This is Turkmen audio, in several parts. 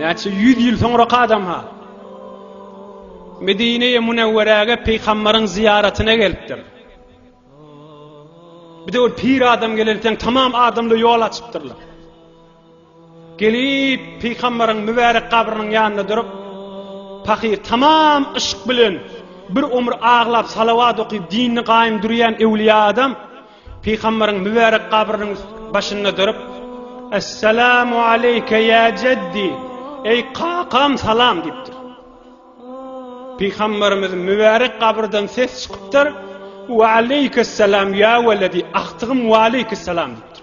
Näçe ýüz ýyl soňrak adam-ha. Medine-e Münewwerege Peýgamberiň zyýaratyna gelipdir. Bir de ol pir adam gelenken tamam adamly ýol açypdyrlar. Gelip Peýgamberiň mübärek gabrynyň ýanynda durup, pahyr tamam yşk bilen bir ömür aglap salawat okyp dinini gaýym durýan öwliýa adam Pygamberiň mübärek gabrynyň başynda durup, Esselamu aleyke ya jeddi, eý kakam salam diýipdir. Pygamberimiz mübärek gabyrdan ses çykypdyr, Wa aleyke selam ya weledi, agtygym wa aleyke selam diýipdir.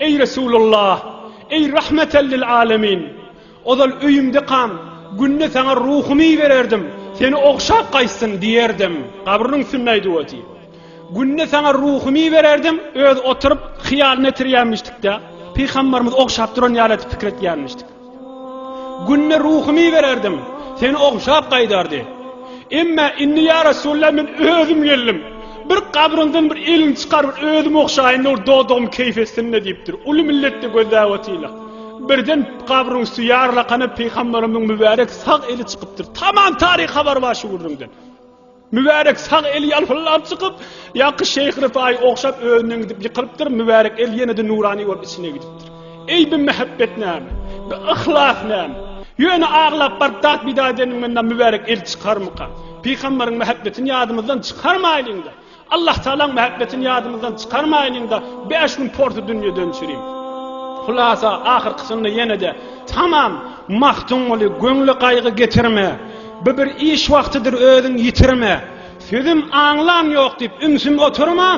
Eý Resulallah! Eý Rahmeten lil alemin! Ozal öýümdekam, Günde saňa ruhumy ibererdim, seni ogşap gaýtsyn diýerdim. Gabrynyň üstünde aýdyp otyr. Günde saňa ruhumy ibererdim, özi oturyp, hyýalyny etirýänmişdik-de, pygambarymyzy ogşap duran ýaly edip pikir etýänmişdik. Günde ruhumy bererdim. Seni ogşap gaýdardy. Emma indi ýa Resulullah men özüm geldim. Bir gabryndan bir elini çykar bir özüm ogşaýyn dur dodum keýf etsin-de diýipdir. Uly milletde gözläp otyrlar. Birden gabryň üsti ýarlakana pygamberimiň mübärek sag eli çykypdyr. Tamam taryh habar bar şu gürrüňden. Mübärek sag eli ýalpyldap çykyp, ýaňky şeýh Ryfaýy ogşap özünden gidip ýykylypdyr, mübärek el ýene-de nurany bolup içine gidipdir. Eý bi mähebbet näme? Bi yhlas näme? Ýöne aglap baryp dat pida edeniňden mübärek el çykarmyka? Pygambaryň mähebbetini ýadymyzdan çykarmaýlyň-da! Allah Tagalaň mähebbetini ýadymyzdan çykarmaýlyň-da, bäş gün porsy dünýeden çürim. Hulasa, ahyrkysynda ýene-de, Tamam, Magtymguly, göwnle gaýgy getirme! Bu bir iş wagtydyr özüň ýitirme, Sözüm aňlan ýok diýip ümsüm oturma,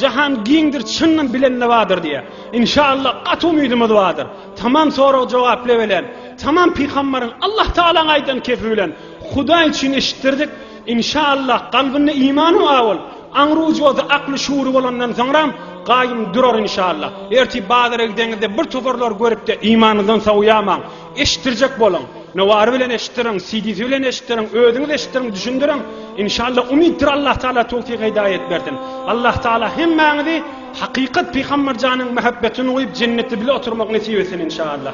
Jahan giňdir çynyny bilende bardyr diýýär. Inşallah gaty umydymyz bardyr. Tamam sorag jogaply bilen, tamam pygambaryň Allah Tagalaň aýdan kepi bilen Hudaý üçin eşitdirdik. Inşallah kalbynda imany bar bolup, aňry-ujyzy, akly-şuury bolandan soňram gaýym durar inşallah. Ertir bazara gideňizde bir toparlar görüpde imanyňyzdan sowýamaň. Eşitdirjek boluň. Nowary bilen eşitdiriň, CD-si bilen eşitdiriň, özüňiz eşitdiriň, düşündiriň. Inşallah umytdyr Allah Taala towfik hidaýet bersin. Allah Taala hemmäňizi hakykat Pygamber janyň mähebbetini guýup jennetde bile oturmak nesip etsin inşallah.